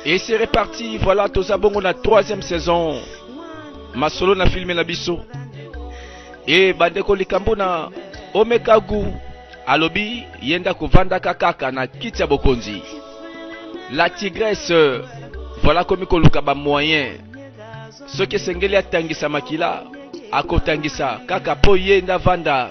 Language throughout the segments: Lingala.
Et c'est reparti, voilà, toza bongo na troisième saison. Masolo na filme na biso. Et bandeko likambo na Omeka Gu alobi yenda kovandaka kaka na kiti ya bokonzi. La tigresse voilà komi koluka ba moyen. Soki esengeli atangisa makila akotangisa kaka po ye nda vanda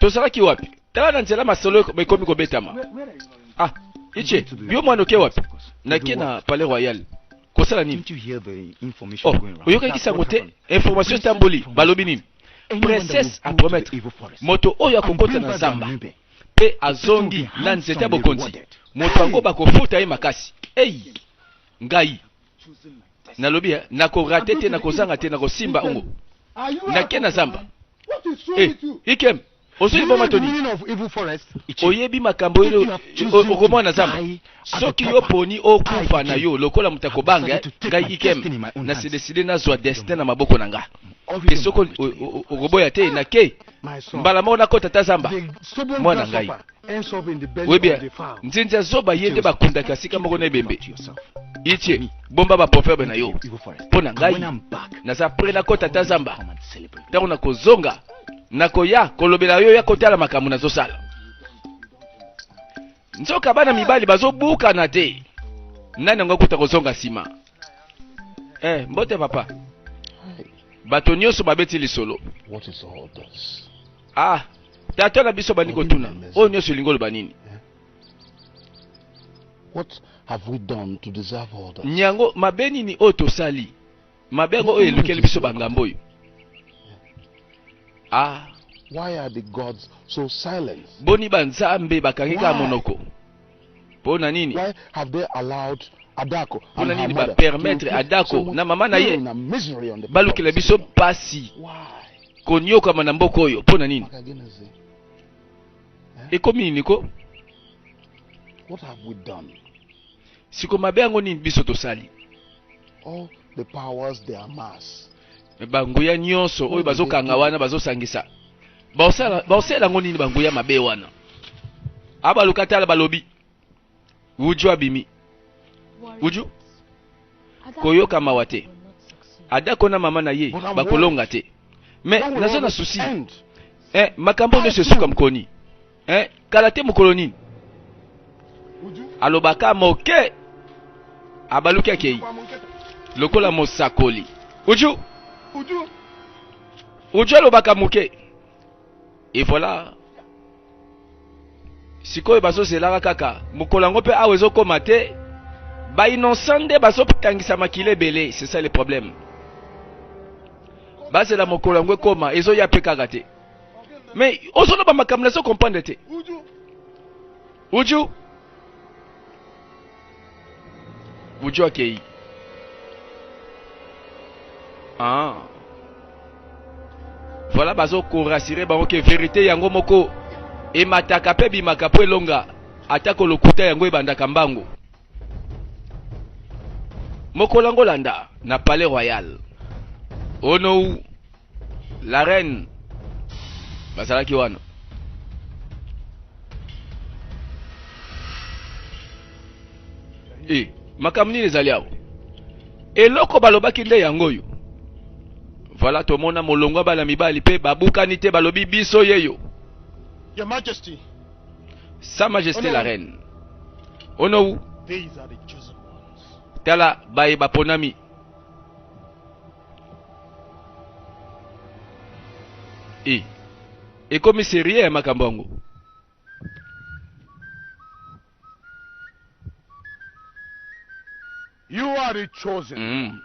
tozalaki wapi tala na nzela masolo ekomi kobetama ah ice yo mwana oke wapi nake na palais royal kosala nini oh, oyokaki sango te information etamboli balobi nini princesse apromettre moto oyo akokota na zamba mpe azongi na nzete ya bokonzi moto yango bakofuta ye makasi ei ngai nalobi eh, nakorate te nakozanga te nakosimba ongo nake na zamba eh, ikem ozwi liboma toni oyebi makambo oyo okomona na zamba soki yo poni okufa na yo lokola moto akobanga eh, ngai ikem nasedeside nazwa destin na maboko na ngai mpe soki okoboya te nake mbala moko nakota ta zamba mwana ngai Oui bien, Nzinza Zoba yende ba kundaka sika moko na ebembe. Itie, bomba ba proverbe na yo. Pona ngai, naza près na kota ta zamba. Tango na kozonga, na koya kolobela yo ya kotala makambo na zosala. Nzoka bana mibali bazobukana te. Nani yango akuta kozonga nsima? Eh, mbote papa. Bato nyonso babeti lisolo. What is all this? Ah, tata na biso bandi kotuna oyo nyonso elingi oloba nini? Nyango mabe nini oyo tosali? Mabe yango oyo elukeli biso bangambo oyo. Ah. Why are the gods so silent? Boni ba nzambe bakangi kaka monoko? Mpo na nini? Why have they allowed Adako mpo na and her nini mother to bapermetre inflict so adako much na mama na ye pain and misery on the people of balukela this biso kingdom? mpasi Why? koniokama na mboka oyo mpo na nini Makagenezi, ekomi nini ko What have we done? siko mabe yango nini biso tosali All the powers they amass banguya nyonso oyo bazokanga wana bazosangisa baosala yango nini banguya mabe wana abaluka tala balobi uju abimi uju koyoka mawa te adako na mama na ye bakolonga te me naza na susi eh, makambo nyonso esuka mokoni eh, kala te mokolo nini alobaka moke abaluki akei lokola mosakoli uju uju alobaka moke e voilà sikoyo bazozelaka kaka mokolo yango mpe awa ezokoma te bainocent nde bazotangisa makila ebele c'est ça le problème bazela mokolo yango ekoma ezoya mpe kaka te mais ozoloba makambo nazo comprendre te uju uju akei ah. voilà bazo korasire bango ke verite yango moko emataka mpe bimaka mpo elonga atako lokuta yango ebandaka mbango Mokolo yango landa na Palais Royal. Onou la reine bazalaki wana. Eh, makambo nini ezali awa? Eloko balobaki nde yango oyo. Voilà tomona molongwa bana mibali mpe babukani te balobi biso yeyo. Your Majesty. Sa Majesté la Reine. Onou. Tala baye baponami. E. Ekomi sérieux ya makambo yango. You are the chosen Mm. ones.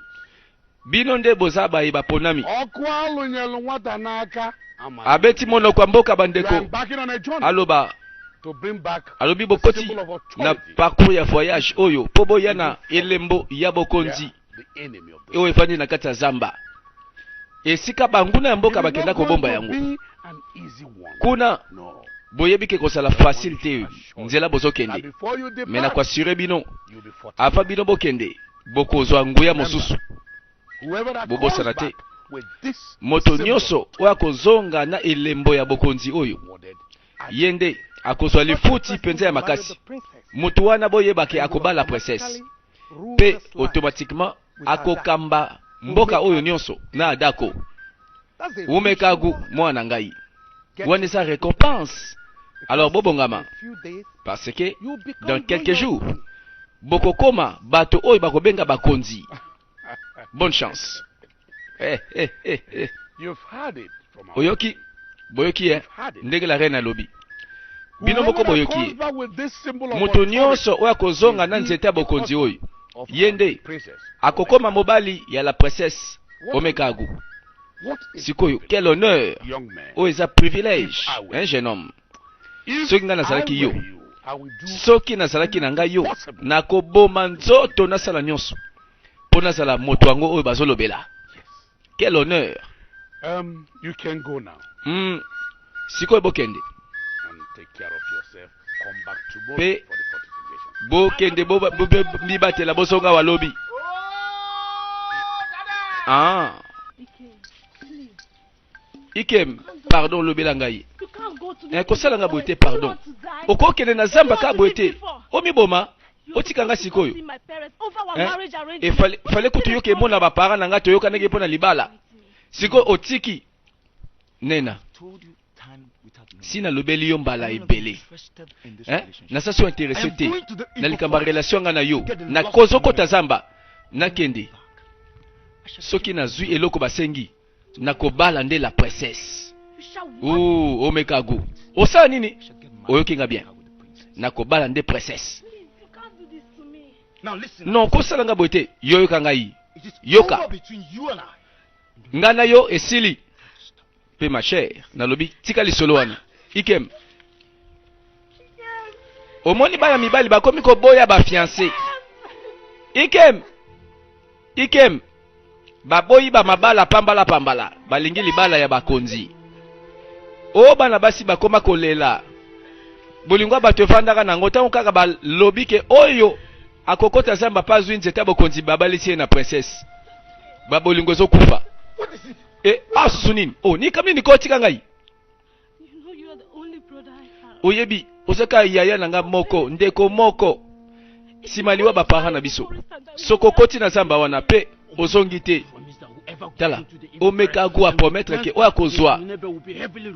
Bino nde boza baye baponami. Ọkụ alụnyelụ nwata n'aka amara. Abeti monoko ya mboka We are bandeko. embarking on a journey Aloba to bring back alobi the bokoti symbol of na authority parcours ya voyage oyo mpo boya na elembo ya bokonzi the enemy of the oyo efandi na kati ya zamba. esika banguna ya mboka bakenda kobomba yango kuna boyebi ke kozala facile te nzela bozokende me na koasure bino ava bino bokende bokozwa nguya mosusu bobosana te moto nyonso oyo akozonga na elembo ya bokonzi oyo ye nde akozwa lifuti mpenza ya makasi moto wana boyebake akobala princesse mpe automatiquement akokamba mboka oyo nionso na adako wumekagu mwana na ngai wana eza recompense alors bobongama parce que dans quelques jours bokokoma bato oyo bakobenga bakonzi bonne chance eh, eh, eh, eh. Oyoki? Boyoki ye ndenge la reine alobi? Bino moko boyoki ye. Moto nyonso oyo akozonga na nzete ya bokonzi oyo, ye nde akokoma mobali ya la princesse Omekagu. Sikoyo, quel honneur! Oyo eza privilège, hein, jeune homme. Soki ngai nazalaki yo, soki nazalaki na ngai yo, nakoboma nzoto, nasala nyonso mpo nazala moto yango oyo bazolobela. Quel honneur! Um, you can go now. Mm, sikoyo bokende. And take care of yourself. Come back tomorrow Pe, for the fortification. Bokende bo, bo, bo, bo, mibatela bosonga walobi. Ah. Ikem, pardon lobela ngai. Eh, kosala nga boye te pardon. Okokende na zamba ka boye te. Omiboma. otika nga sikoyo eh? fale kutu yoka emo na bapara na nga toyokanaki mpo na libala sikoyo otiki nena si nalobeli yo mbala ebele eh? nasa so interese te na likambo ya relation nga na yo nakozokota zamba nakende soki nazwi eloko basengi na kobala nde la princesse oh omeka go osala nini oyoki nga bien na kobala nde princesse non kosala nga boye te yo yoka ngai yoka ngai na yo esili mpe ma chère nalobi tika lisolo wana ikem omoni bana mibali bakomi koboya bafianse ikem ikem baboyi bamabala pambala pambala balingi libala ya bakonzi o bana basi bakoma kolela bolingo ya bato efandaka na yango ntango kaka balobi ke oyo akokota zamba mpe azwi nzete ya bokonzi babalisi ye na princese babolingo ezokufa e asusu nini o oh, nikamini nikotika ngai oyebi ozaka yaya na nga moko ndeko moko nsima liwa bapara na biso soko okoti na zamba wana pe ozongi te tala omeka go aprometre ke oyo akozwa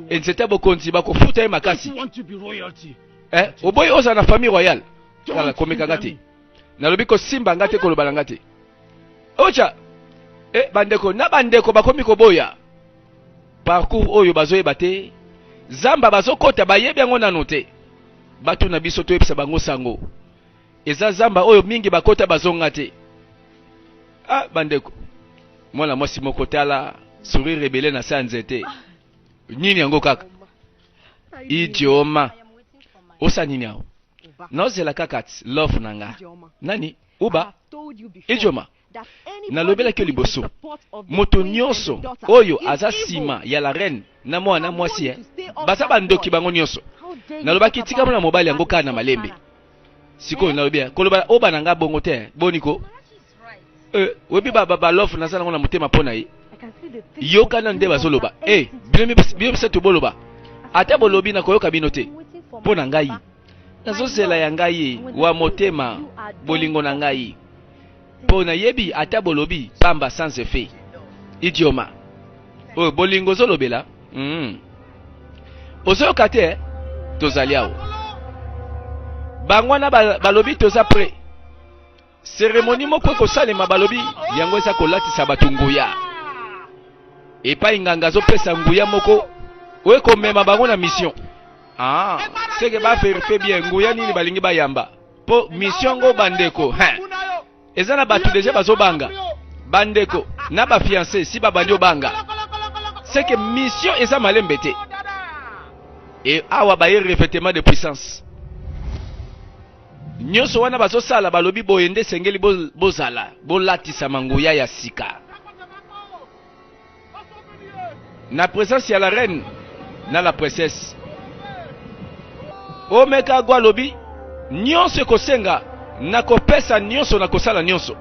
enzete ya bokonzi bakofuta ye makasi eh, oboyi ozala na famille royale tala komeka nga te nalobi kosimba nga te koloba na nga te ocha eh, bandeko na bandeko bakomi koboya parcours oyo bazoyeba te zamba bazokota bayebi yango nano te batu na biso toyebisa bango sango eza zamba oyo mingi bakota bazonga te ah bandeko mwana mwasi moko tala sourire rebele na se ya nzete ah. nini yango kaka idioma osa nini yango nozela kaka love na nga nani uba idioma Nalobelaki yo liboso, moto nionso oyo aza sima ya la reine na mwana na mwasi eh, baza ba ndoki bango nionso. Nalobaki tika mwana mobali yango kaka na malembe. Sikoyo nalobi eh, koloba oba na nga bongo te, boni ko? Eh, webi ba, ba, ba love naza nango na motema mpo na ye. Yoka nanu nde bazoloba. Eh, bino bino bisato boloba. Ata bolobi na koyoka bino te. Mpo na ngai. Nazozela ya ngai wa motema bolingo na ngai. po na yebi ata bolobi pamba sans effet idioma oyo bolingo ozolobela mm. ozoyoka te eh? tozali awa bango wana balobi toza pre seremoni moko ekosalema balobi yango eza kolatisa bato nguya epai nganga azopesa nguya moko oyo ekomema bango na mission ah, seke baverifie bien nguya nini balingi bayamba po mission ngo bandeko hein eza na bato deja bazobanga bandeko na bafiance si babandi obanga seke mission eza malembe te e awa baye revêtement de puissance nyonso wana bazosala balobi boye nde esengeli bozala bolatisama nguya ya sika na presence ya la reine na la princesse omeka agwa alobi nyonso ekosenga na kopesa nyonso na kosala nyonso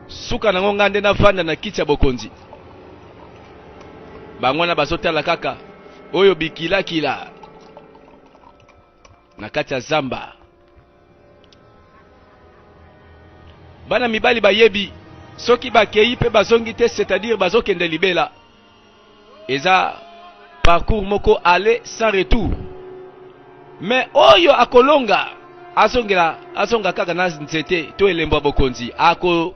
suka nango ngai nde navanda na kiti ya bokonzi bango wana bazotala kaka oyo bikilakila na kati ya zamba bana mibali bayebi soki bakei mpe bazongi te c'est-à-dire bazokende libela eza parcours moko aller sans retour mais oyo akolonga azongela azonga kaka na nzete to elembo ya bokonzi ako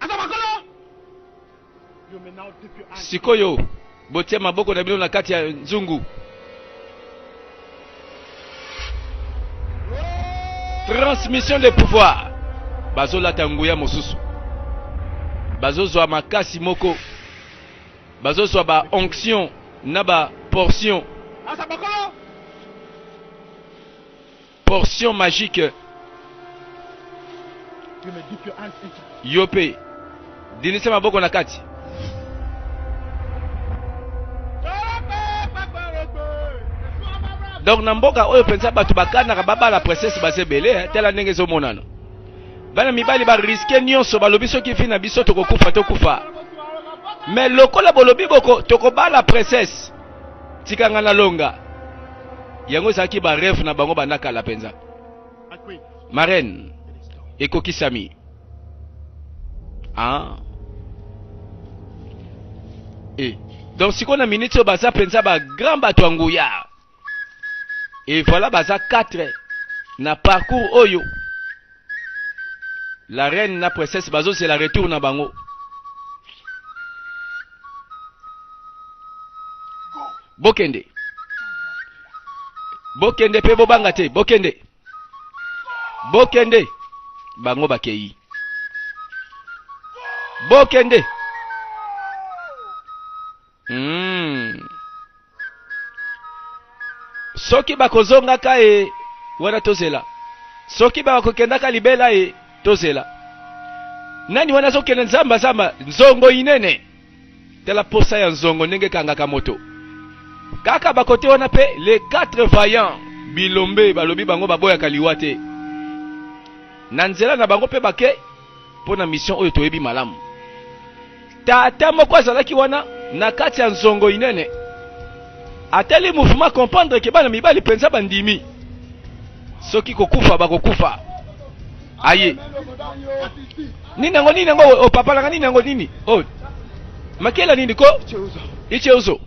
Aza makolo. Sikoyo botie maboko na bino na kati ya nzungu. 30 mission de pouvoir. bazolata nguya mosusu bazozwa makasi moko bazozwa ba onction na ba portion Portion magique. Yo pe dinisa maboko na kati. donc na mboka oyo mpenza bato bakanaka babala princesse baza ebele eh, tala ndenge ezomonana bana mibali bariske nyonso balobi soki vi na biso tokokufa tokufa me lokola bolobi boko tokobala princesse Tika nga nalonga. Yango ezalaki ba rêve na bango banda kala penza. Marraine ekokisami. Ah. Eh. Donc sikoyo na minute oyo baza penza ba grand bato ya nguya. Et voilà baza 4 na parcours oyo La reine na princesse bazo zela retour na bango. Bokende. Bokende pe bobanga te, bokende. Bokende. Bango bakeyi. Bokende. Humm soki bakozongaka e wana tozela soki bakokendaka libela e tozela nani wana azokende nzamba zamba nzongo inene tala posa ya nzongo ndenge kangaka moto kaka bakote wana pe les quatre vaillants bilombe balobi bango baboyaka liwa te na nzela na bango pe bake mpo na mission oyo toyebi malamu. Tata moko azalaki wana na kati ya nzongo inene, atali mouvement comprendre ke bana mibali mpenza bandimi soki kokufa bakokufa. Aye nini yango nini yango opapalaka nini yango nini oh. makela nini ko icheuzo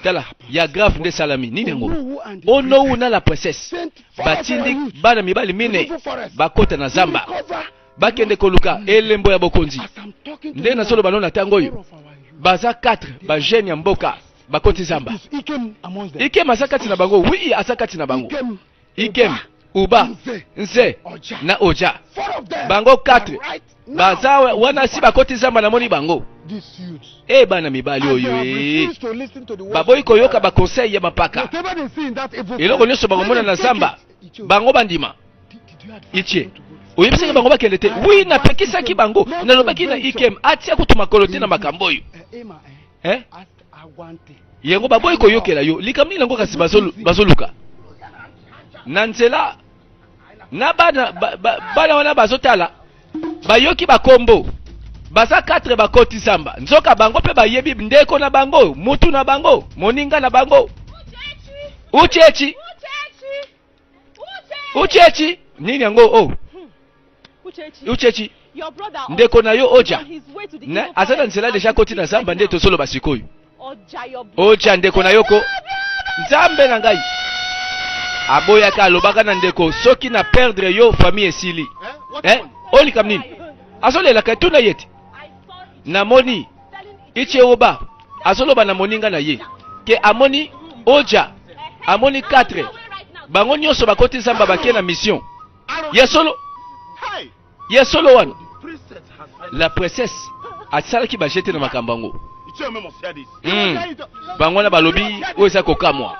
tala ya grave nde salami nini yango onowu na la princesse batindi bana mibali minei bakota na zamba bakende koluka elembo ya bokonzi nde nazoloba no na ntango oyo baza 4 bajeune ya mboka bakoti zamba ikem aza kati na bango wi aza kati na bango ikem uba nze na oja bango 4 baza wana si bakoti zamba namoni bango e eh, bana mibali oyo eh. baboyi koyoka bakonseil ya mapaka eloko nyonso bakomona na zamba bango bandima itie oyebisaki bango bakende te wi napekisaki bango nalobaki na ikem atia kutu makolo te na makambo oyo eh, yango baboyi koyokela yo likambo nini yango kasi bazoluka na nzela na bana ba, ba, bana wana bazotala bayoki bakombo baza 4 bakoti zamba nzoka bango mpe bayebi ndeko na bango mutu na bango moninga na bango uchechi uchechi nini yango o oh. uchechi ndeko na yo oja aza na nzela deja koti na zamba nde tozoloba sikoyo oja ndeko na yo ko nzambe na ngai aboyaka alobaka na ndeko soki na perdre yo famille esili eh? eh? olikam nini azolelaka tuna ye te namoni icheoba azoloba na moninga na ye ke amoni oja amoni 4 bango nyonso bakoti zamba bake na mission ya solo ya solo wana la princesse asalaki bajete na makambo yango hmm. bango wana balobi oyo eza kokamwa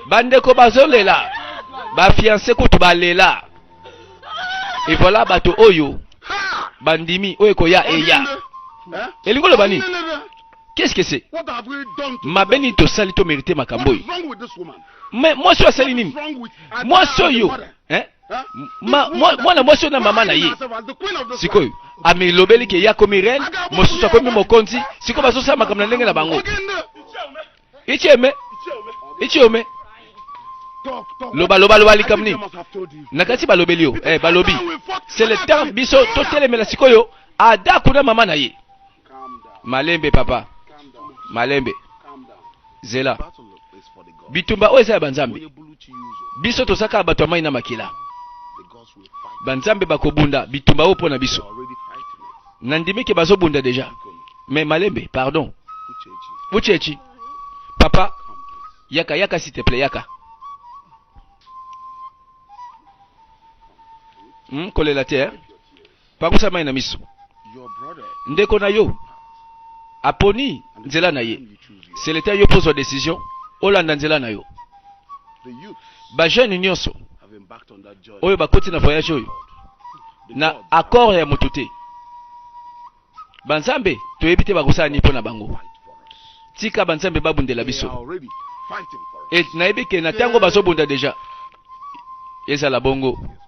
bandeko bazolela bafianse kutu balela evoila bato oyo bandimi oyo ekoya eya elingi koloba nini qu'est ce que c'est mabe nini tosali tomerite makambo oyo Mais moi je suis nini? Moi je suis hein? Ma, moi, moi, moi, je na maman na ye. Sikoyo, amilobeli ke ya komi reine, mosusu akomi mokonzi, sikoyo bazosala makambo na ndenge na bango. Icheme, icheme. loba loba loba likambo nini na kati balobeli yo eh, balobi c'est le temps biso totelemela sikoyo ada kuna mama na ye malembe papa malembe zela bitumba oyo eza ya banzambe biso toza kaka bato ya mai na makila banzambe bakobunda bitumba oyo mpo na biso nandimi ke bazobunda deja me malembe pardon uchechi papa yaka yaka siteple yaka hmm, kolela te eh? Pangusa mai na miso. Ndeko na yo aponi nzela na ye. Seleta yo pozwa decision, olanda nzela na yo. Bajeune nyonso oyo bakoti na voyage oyo na accord ya moto te. Banzambe toyebi te bakosala nini mpo na bango. Tika banzambe babundela biso. Et nayebi ke na ntango bazobunda deja ezala bongo.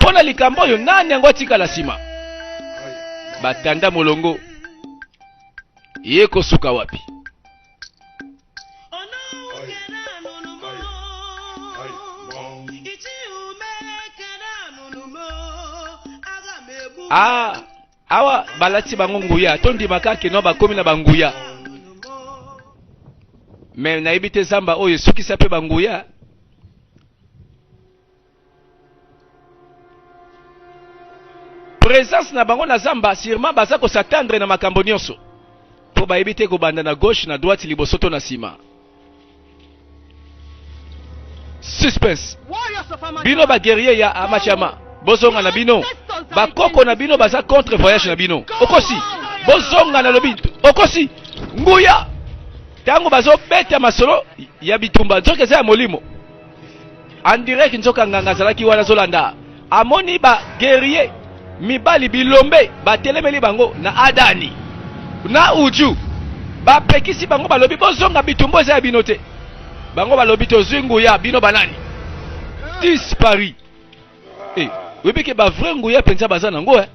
Mpo na likambo oyo, nani yango atikala nsima? Batanda molongo ye kosuka wapi? Ah, awa balati bango nguya, tondimaka kino bakomi na banguya me nayebi te zamba oyo esukisa mpe banguya presence na bango na zamba sûrement baza ko s'attendre na makambo nyonso mpo bayebi te kobanda na gauche na droite liboso to na nsima suspense bino baguerrier ya amachama bozonga na bino bakoko na bino baza contre voyage na bino okosi bozonga na lobi okosi nguya ntango bazobeta masolo ya bitumba nzoka eza ya molimo andirek nzoka nganga azalaki wana azolanda amoni ba guerrier mibali bilombe batelemeli bango na adani na uju bapekisi bango balobi bozonga bitumbo eza ya bino te bango balobi tozwi nguya bino banani dispari e eh, oyebi ke bavrai nguya mpenza baza nango eh?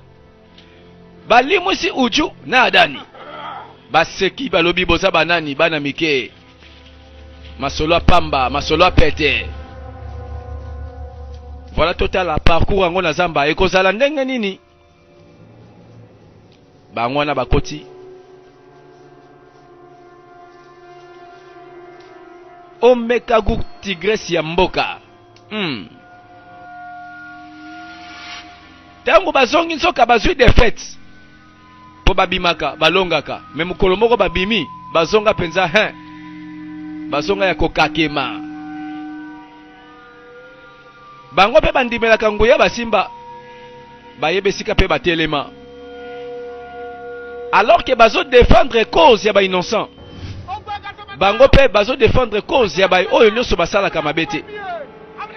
balimwisi uju na adani baseki balobi boza banani bana mike masolo ya pamba masolo ya pete voilà totala parcours yango na zamba ekozala ndenge nini bango wana bakoti omeka gu tigresi ya mboka Hum. Tango bazongi nzoka bazui defaite. Po babimaka, balongaka. Me mukolo moko babimi, bazonga penza hein. Bazonga ya kokakema. Bango pe bandimelaka nguya basimba. bayeba esika mpe batelema alors que bazo défendre cause ya ba innocent bango mpe bazo défendre cause ya baye oyo nyonso basalaka mabe te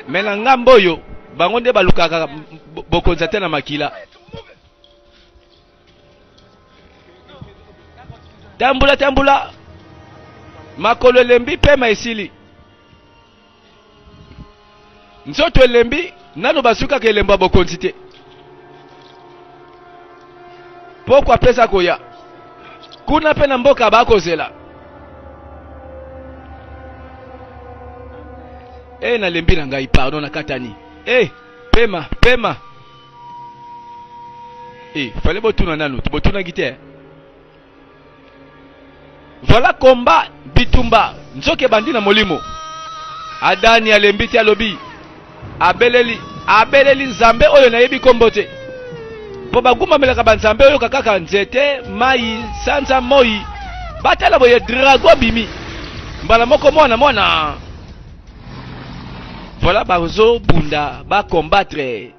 me na ngambo oyo bango nde balukaka bokonzi ate na makila tambola tambola makolo elembi pema esili nzoto elembi nano basukaka elembo ya bokonzi te pokwa apesa koya kuna mpe na mboka bakozela e nalembi na ngai pardon nakatani e pema pema Eh, fallait botuna nanu, botunaki te. Voilà combat bitumba nzoke bandi na molimo. Adani alembi te alobi abeleli abeleli nzambe oyo nayebi kombo te mpo bagumamelaka banzambe oyo kaka nzete mai sanza moi batala boye drago bimi mbala moko mwana mwana Voilà bazo bunda ba combattre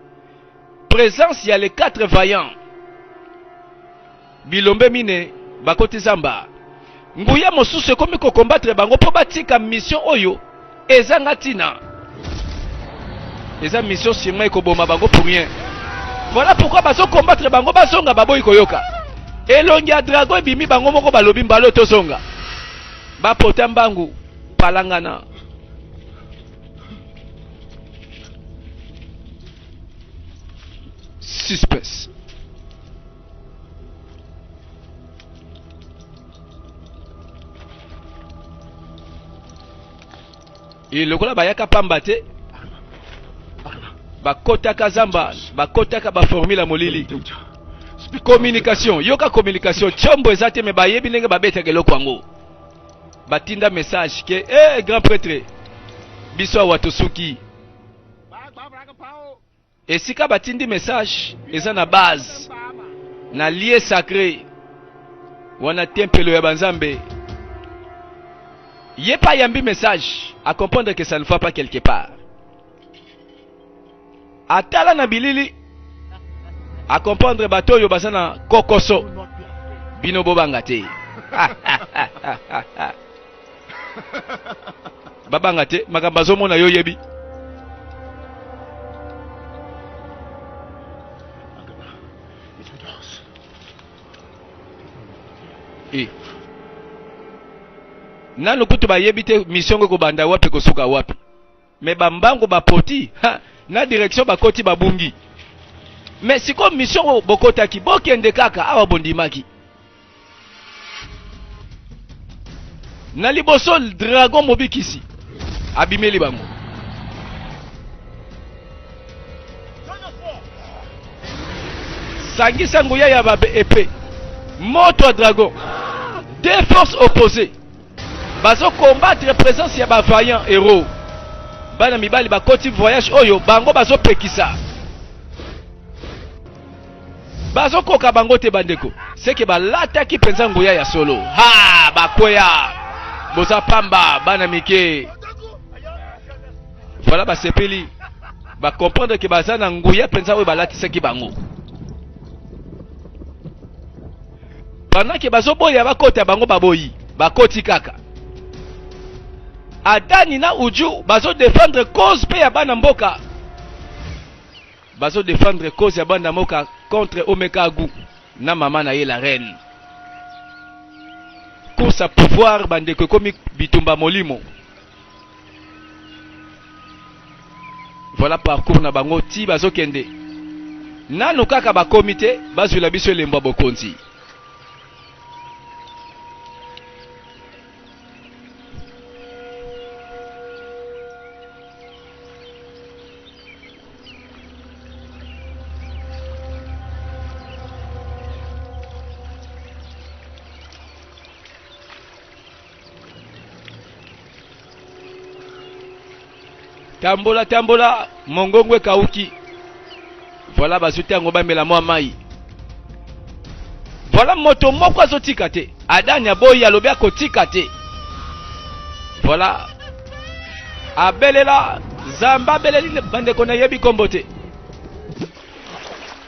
présence ya les quatre vaillants bilombe mine bakoti zamba nguya mosusu ekomi kokombattre bango mpo batika mission oyo ezanga ntina eza mission sirma ekoboma bango pour rien voilà pourquoi bazokombattre bango bazonga baboyi koyoka elongi ya drago ebimi bango moko balobi mbalo tozonga bapota mbangu palangana suspense e lokola bayaka pamba te bakotaka zamba bakotaka baformule ya molili communication yoka communication tiombo eza te me bayebi ndenge babetaka eloko yango batinda message ke eh, grand pretre biso awa tosuki esika batindi message eza na base na lie sacre wana tempelo ya banzambe ye pa yambi message a comprendre que ça ne va pas quelque part atala na bilili akomprendre bato oyo baza na kokoso bino bobanga te babanga te makambo azomona yo oyebi e. nanu kutu bayebi te mission ngo ekobanda wapi kosuka wapi Mais ba mbangu ba poti ha, na direction ba koti ba bungi. Mais siko mission oyo bokotaki bokende kaka awa bondimaki. Na liboso dragon mobikisi abimeli bango. Sangisa nguya ya ba épée. Moto ya dragon. Deux forces opposées. Bazo combattre presence ya ba vaillant hero. Bana mibali bakoti voyage oyo bango bazo pekisa. Bazo koka bango te bandeko. Seke balataki penza nguya ya solo. Ha bakweya. Boza pamba bana mike. Voilà basepeli. Ba comprendre que baza na nguya penza oyo balatisaki bango. pendant ke bazoboya bakota bango baboyi bakoti kaka adani na uju bazodefendre cause mpe ya bana mboka bazodefendre cause ya bana mboka contre omekagu na mama na ye la reine course ya pouvoir bandeko ekomi bitumba molimo Voilà parcours na bango ti bazokende nanu kaka bakomi te bazwila biso elembo ya bokonzi. tambola tambola mongongo ekauki voilà bazuti yango bamela mwa mai voilà moto moko azotika te adani aboyi alobi akotika te voilà abelela zamba abeleli bandeko nayebi nkombo te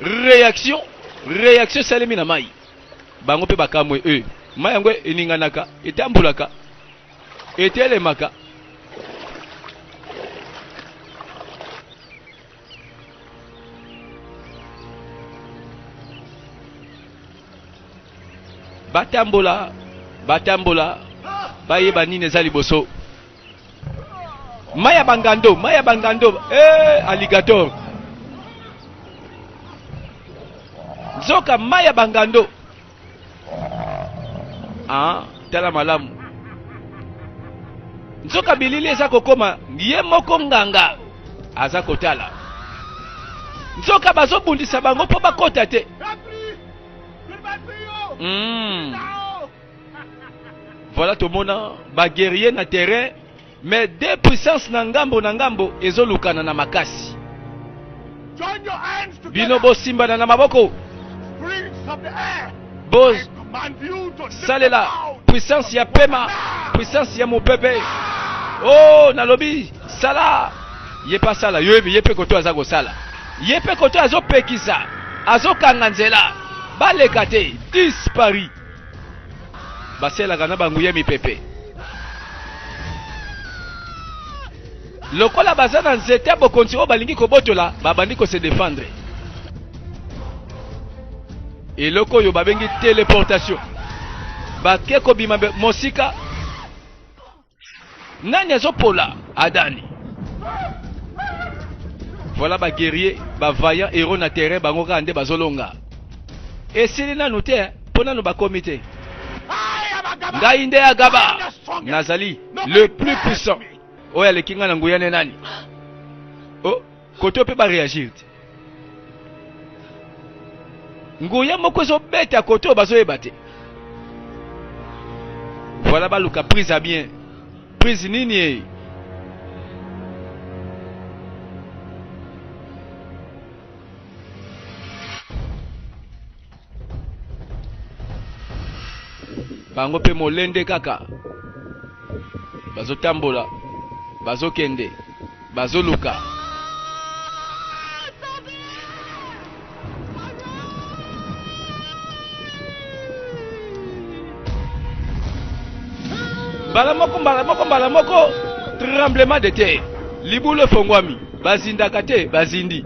réaction réaction esalemi na mai bango mpe bakamwe e mai yango eninganaka etambolaka etelemaka batambola batambola bayeba nini eza liboso Maya Bangando, Maya Bangando, eh, alligator. Zoka Maya Bangando. Ah, tala malamu. Zoka bilili eza kokoma ye moko nganga aza kotala. Zoka bazobundisa bango mpo bakota te. Mm. Voilà tomona ba guerriers na terrain mais deux puissances na ngambo na ngambo ezolukana na makasi. Bino bosimbana na maboko. Bo salela puissance ya pema, puissance ya mopepe. Oh, nalobi sala ye pa sala yo yebi ye pe koto aza kosala ye pe koto azopekisa azokanga nzela baleka te dispari baselaka na banguya mipepe lokola baza na nzete ya bokonzi oyo balingi kobotola babandi kose defendre eloko oyo babengi teleportation bake kobima mosika Nani azo pola Adani? Voilà ba guerriers, ba vaillants héros na terrain bango kaka nde bazolonga. Esili nanu te, mpo nanu bakomi te. Ngai nde Agaba, nazali le plus puissant. Oyo aleki ngai na nguya nde nani? kote oyo mpe bareagir te nguya moko ezobeta kote oyo bazoyeba te voilà baluka prise ya bien prise nini eye bango mpe molende kaka bazotambola bazokende bazoluka mbala moko mbala moko mbala moko tremblement de terre libulu efongwami bazindaka te bazindi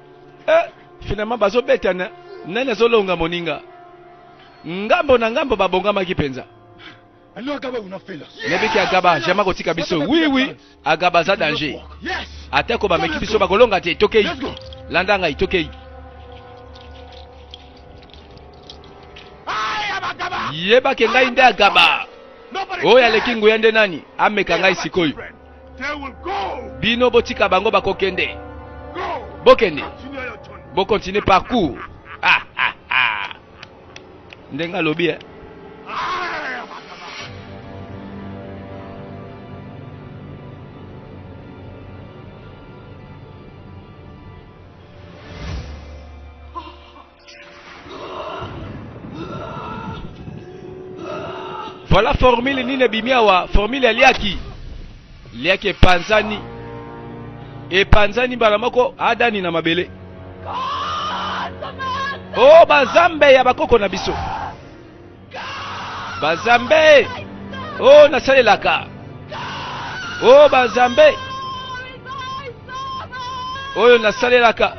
eh, finalement bazobetana nani azolonga moninga ngambo na ngambo babongamaki mpenza nabiki agaba jama kotika biso wiwi oui, oui. agaba aza danger atako bameki biso bakolonga te tokei landa ngai tokei yebake ngai nde agaba oyo aleki nguya nde nani ameka ngai sikoyo Bino botika bango bakokende. Bokende. Bokontinue parcours. Ah, ah, ah. Ndenge alobi eh. Voilà formule nini ebimi awa, formule ya liaki liaki epanzani epanzani mbala moko adani na mabele o oh, banzambe ya bakoko na biso Bazambe o oh, nasalelaka o oh, bazambe oyo nasalelaka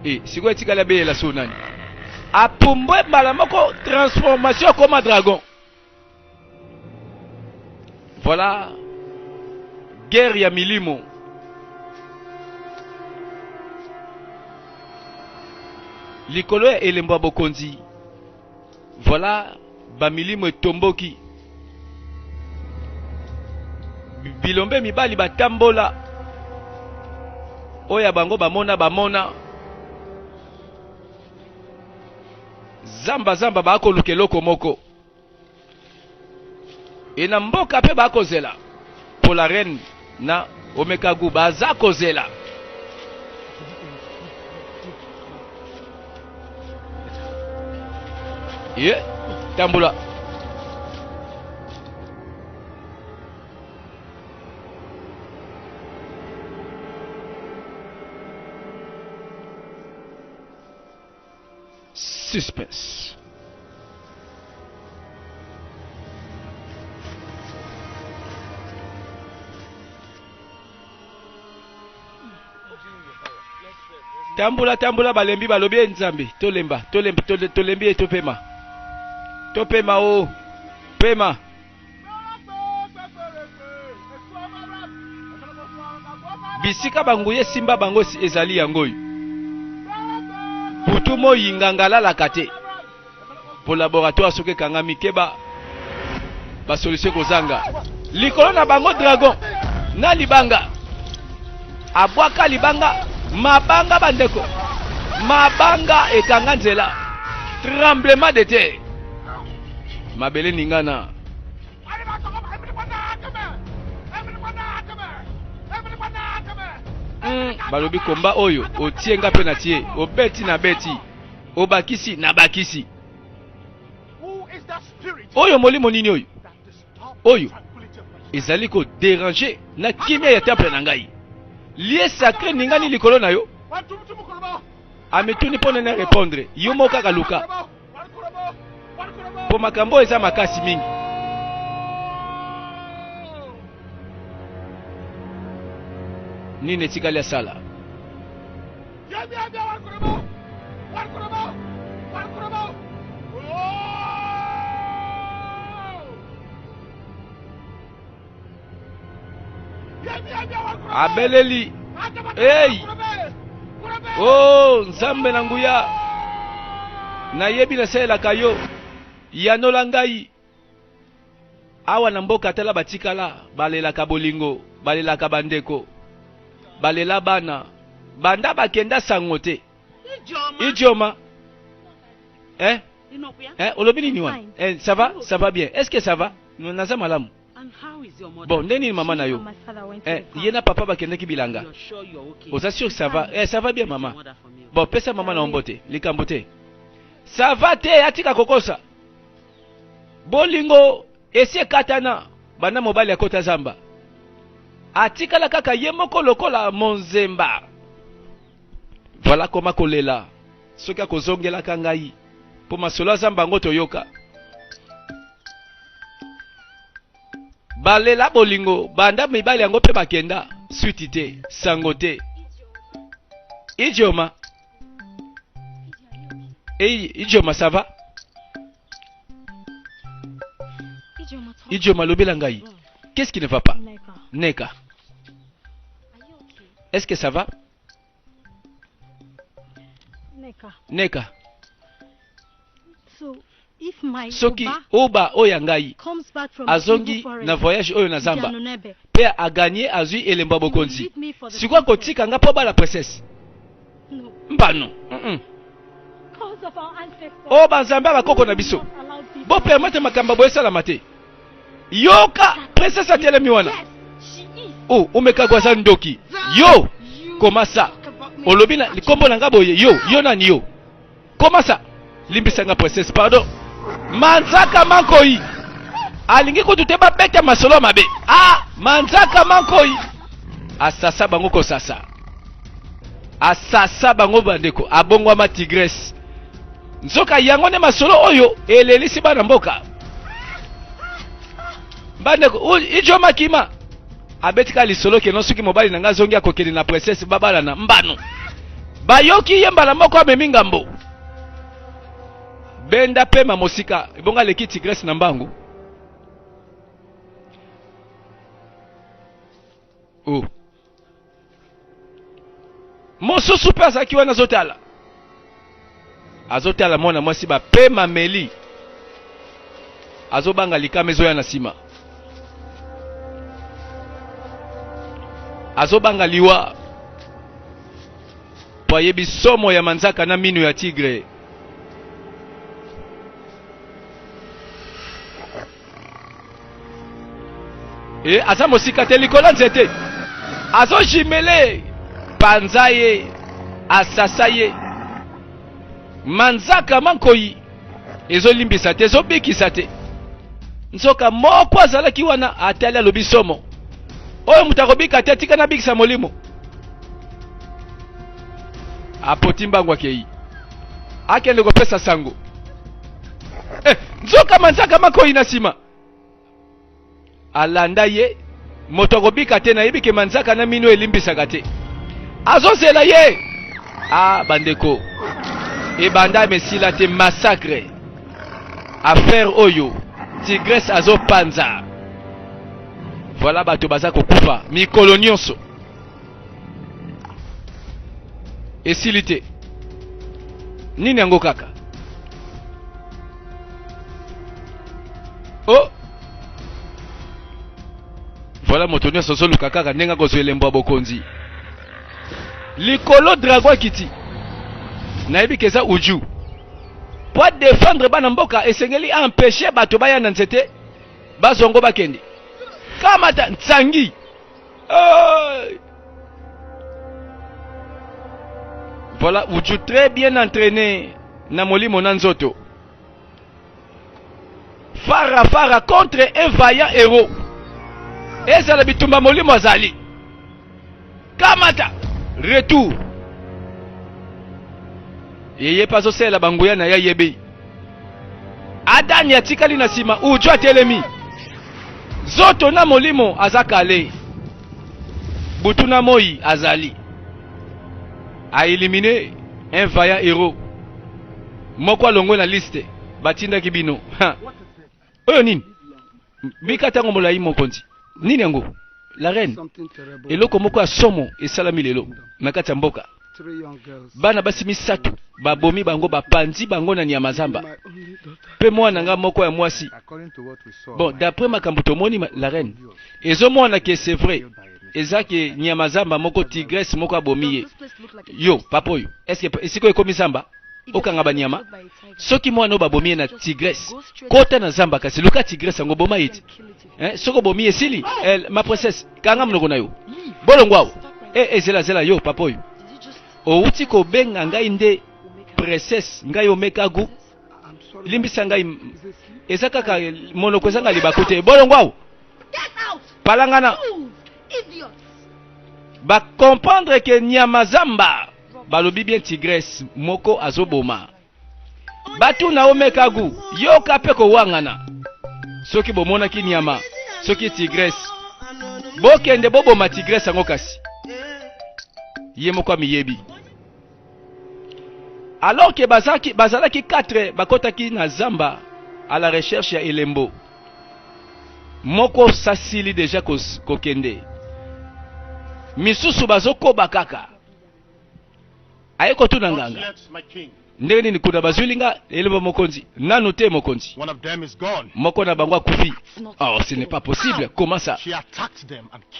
e eh, sikoyo etikali abelela so nani apumbwe mbala moko transformation akoma dragon Voilà guerre ya milimo. Likolo ya elembo ya bokonzi. Voilà ba milimo etomboki. Bilombe mibali batambola. Oya bango bamona bamona. Zamba zamba ba ko lukeloko moko. Et na mboka pe bakozela pour la reine na omeka gout baza kozela ye tambola Suspense. tambola tambola balembi balobi ye nzambe tolemba tolembi tolembi ye topema topema o oh, pema Bisika banguya esimba bango ezali yango oyo. Butu moi nganga alalaka te mpo laboratoire soki ekangami keba basolisio ekozanga likolo na bango dragon na libanga abwaka libanga mabanga bandeko mabanga ekanga nzela tremblement de terre mabele ningana hmm, balobi komba oyo otie nga mpe na tie obeti na beti obakisi na bakisi oyo molimo nini oyo oyo ezali koderange na kimia ya temple na ngai lie sacre ningani likolo na yo amituni mpo nene repondre yo moko kaka luka mpo makambo eza makasi mingi nini etikali asala abeleli ei o oh, nzambe na nguya nayebi nasalelaka yo yanola ngai awa na mboka tala batikala balelaka bolingo balelaka bandeko balela bana banda bakenda sango te Idioma. Idioma. Eh? Eh, olobi nini wana? Eh, ça va? Ça va bien. Est-ce que ça va? Naza malamu. Bon, nde nini mama na yo? Eh, ye na papa bakendeki bilanga. Oza sûr ça va? Eh, ça va bien mama. Bon, pesa mama na ombo te, likambo te. Ça va te, atika kokosa. Bolingo esi ekatana banda mobali akota zamba. Atikala kaka ye moko lokola monzemba. Voilà koma kolela soki akozongelaka ngai mpo masolo ya zamba yango toyoka balela bolingo banda mibali yango mpe bakenda switi te sango te idioma idioma sava Idioma, lobela ngai. Qu'est-ce qui ne va pas Neka. Est-ce que ça va Neka. Neka. So, if my soki oba oyo ya ngai azongi na voyage oyo na zamba mpe aganye azwi elembo ya bokonzi sikoyo akotika ngai mpo bala princesse mbano o oh, banzambe ya bakoko na biso bopermete makambo boye esalama te yoka presence atelemi wana o oh, omekagwa aza ndoki yo komasa olobi na likombo na nga boye yo yo nani yo Comment ça? Limbisa nga princesse, pardon. Manzaka Mankoi alingi kutu te babeta masolo mabe. Ah, Manzaka Mankoi asasa bango kosasa, asasa bango bandeko, abongwama tigresse. Nzoka yango nde masolo oyo elelisi bana mboka bandeko ijo makima abeti kaka lisolo keno soki mobali na ngai azongi akokende na princesse babalana mbano bayoki ye mbala moko amemi ngambo benda pema mosika ebonga aleki tigresse na mbangu oh. mosusu mpe azalaki wana azotala azotala mwana mwasi bapema meli azobanga likama ezoya na nsima azobanga liwa mpo ayebi somo ya manzaka na minu ya tigre e eh, aza mosika te likolo nzete azojimele panza ye asasa ye manzaka mankoi ezolimbisa te ezobikisa te nzoka moko azalaki wana atali alobi somo oyo moto akobika te atika nabikisa molimo apoti mbangu akei akende kopesa sango eh, nzoka manzaka makoi na nsima alanda ye moto akobika te nayebi ke manzaka na mino elimbisaka te azozela ye a ah, bandeko ebanda mesila te massacre affaire oyo tigresse azopanza voilà bato baza kokufa mikolo nyonso esili te nini yango kaka o oh! voilà moto nyonso ozoluka kaka ndenge akozwa elembo ya bokonzi likolo drago akiti nayebi ke eza uju mpo adefendre bana mboka esengeli aempeshe bato baya na nzete bazwa ngo bakende kamata nsangi Hey! Voilà, vous êtes très bien entraîné na molimo na nzoto. Fara Fara contre un vaillant héros. Ezala bitumba molimo azali. Kamata retour. Yeye pazo sela banguya na ya yebe. Adani atikali na nsima, Uju atelemi zoto na molimo aza kale butu na moi azali a elimine un vaillant hero moko alongwe na liste batindaki bino Oyo nini? Bika tango molayi mokonzi. Nini yango? La reine. Eloko moko ya somo esalami lelo na kati ya mboka. Bana basi misato babomi bango, bapanzi bango na nyama zamba, pe mwana nga moko ya mwasi. Bon, d'après makambo tomoni, la reine, ezomona ke c'est vrai eza ke nyama zamba moko tigresse moko abomi ye yo papa oyo est-ce que esiko ekomi zamba okanga banyama soki mwana oyo babomi ye na tigresse kota na zamba kasi luka tigresse yango boma ye ti eh, soki obomi ye esili eh, ma princesse kanga monoko na yo bolongo awa e eh, eh, zela zela yo papa oyo owuti kobenga ngai nde princesse ngai omekagu limbisa ngai eza kaka monoko ezanga libaku te bolongo awa palangana bakomprendre ke nyama zamba Balobi bien tigresse moko azoboma batu na omekagu yoka pe kowangana soki bomonaki nyama soki tigresse bokende boboma tigresse yango kasi ye moko amiyebi alors ke bazalaki, bazalaki 4 bakotaki na zamba à la recherche ya elembo moko sasili deja kokende ko misusu bazokoba kaka aye kotuna nganga ndenge nini kuna bazwili nga elombo mokonzi nanu te mokonzi moko na bango akufi oh ce n'est pas possible comment ça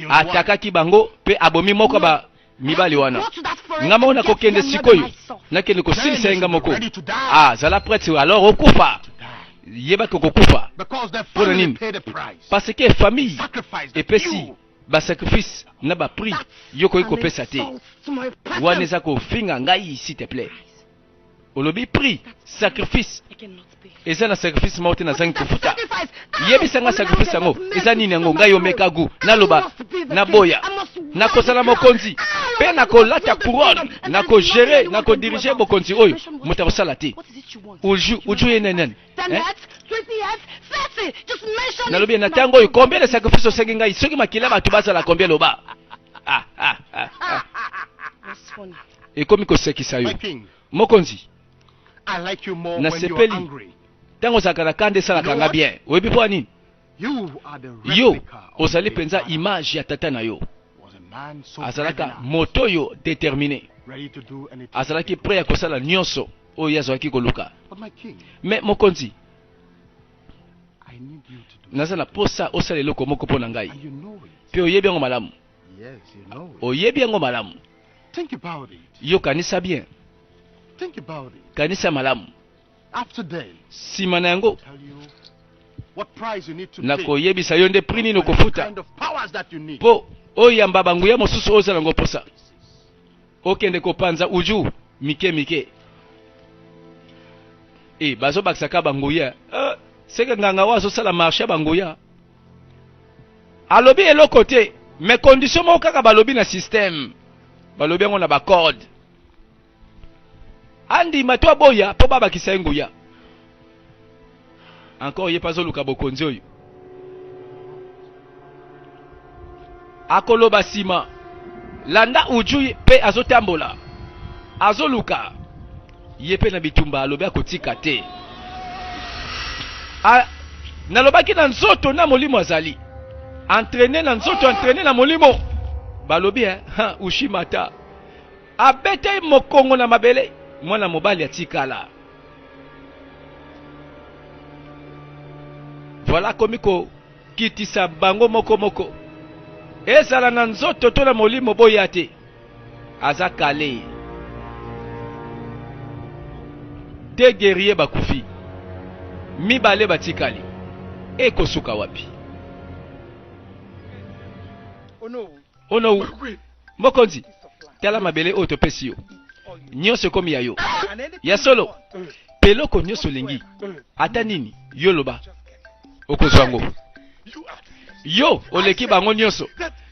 atakaki bango mpe abomi moko ba mibali wana nga moko nakokende sikoyo nakende kosilisa ye nga moko ah zala prêtre alors okufa yebaki okokufa mpo na nini parce que famille epesi ba sacrifice na ba prix yo koki kopesa te wana eza kofinga ngai s'il te plaît olobi prix sacrifice eza na sacrifice moko te nazangi kofuta yebisa nga sacrifice yango eza nini yango ngai omeka gu naloba naboya nakosala mokonzi mpe nakolata couronne nakogere nakodirige bokonzi oyo moto akosala te uju uju ye nani nalobi na ntango oyo combien de sacrifice osengi ngai soki makila bato bazala combien loba ah, ah, ah, ah. ekomi kosekisa yo mokonzi nasepeli ntango ozalaka na kanda esalaka nga bien oyebi mpo ya nini yo ozali mpenza image ya tata na yo azalaka moto oyo determine azalaki pre ya kosala nyonso oyo ye azalaki koluka me mokonzi naza na posa osala eloko moko mpo na ngai mpe oyebi yango malamu oyebi yango malamu yo kanisa bien kanisa malamu nsima na yango nakoyebisa yo nde prix nini okofuta mpo oyamba banguya mosusu oyo ozala yango mposa okende kopanza uju mike mike e eh, bazobakisa ka banguya eh, seke nganga oyo azosala marche ya banguya alobi eloko te mais condition moko kaka balobi na système balobi yango na bacode andima to aboya mpo babakisa ye nguya encore ye mpe azoluka bokonzi oyo akoloba nsima landa uju mpe azotambola azoluka ye mpe na bitumba alobi akotika te A, nalobaki na nzoto na molimo azali entraine na nzoto entraine na molimo balobi eh, ushimata Abetei mokongo na mabele, mwana mobali atikala. Voilà akomi kokitisa bango moko moko, ezala na nzoto to na molimo, boya te, aza kale. De guerrier bakufi, mibale batikali, ekosuka wapi? Oh no, mokonzi, tala mabele oyo topesi yo, nyonso ekomi ya yo. Ya solo, mpe eloko nyonso olingi, ata nini yo loba, okozwa yango. Yo oleki bango nyonso.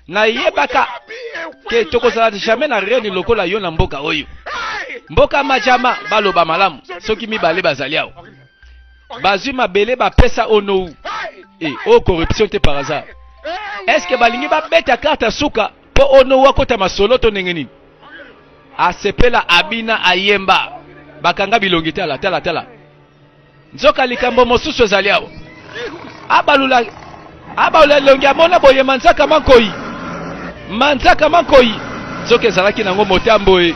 Nayebaka ke tokozala jamais na reni lokola yo na mboka oyo. Mboka majama baloba malamu soki mibale bazali awa. bazwi mabele bapesa onou e eh, oyo oh, corruption te par hasard est ce que balingi babeta karte ya suka mpo onou akota masolo to ndenge nini asepela abina ayemba bakanga bilongi tala tala tala nzoka likambo mosusu ezali awa abalula abalula elongi amona boye manzaka mankoi manzaka mankoi nzoka ezalaki nango motambo ye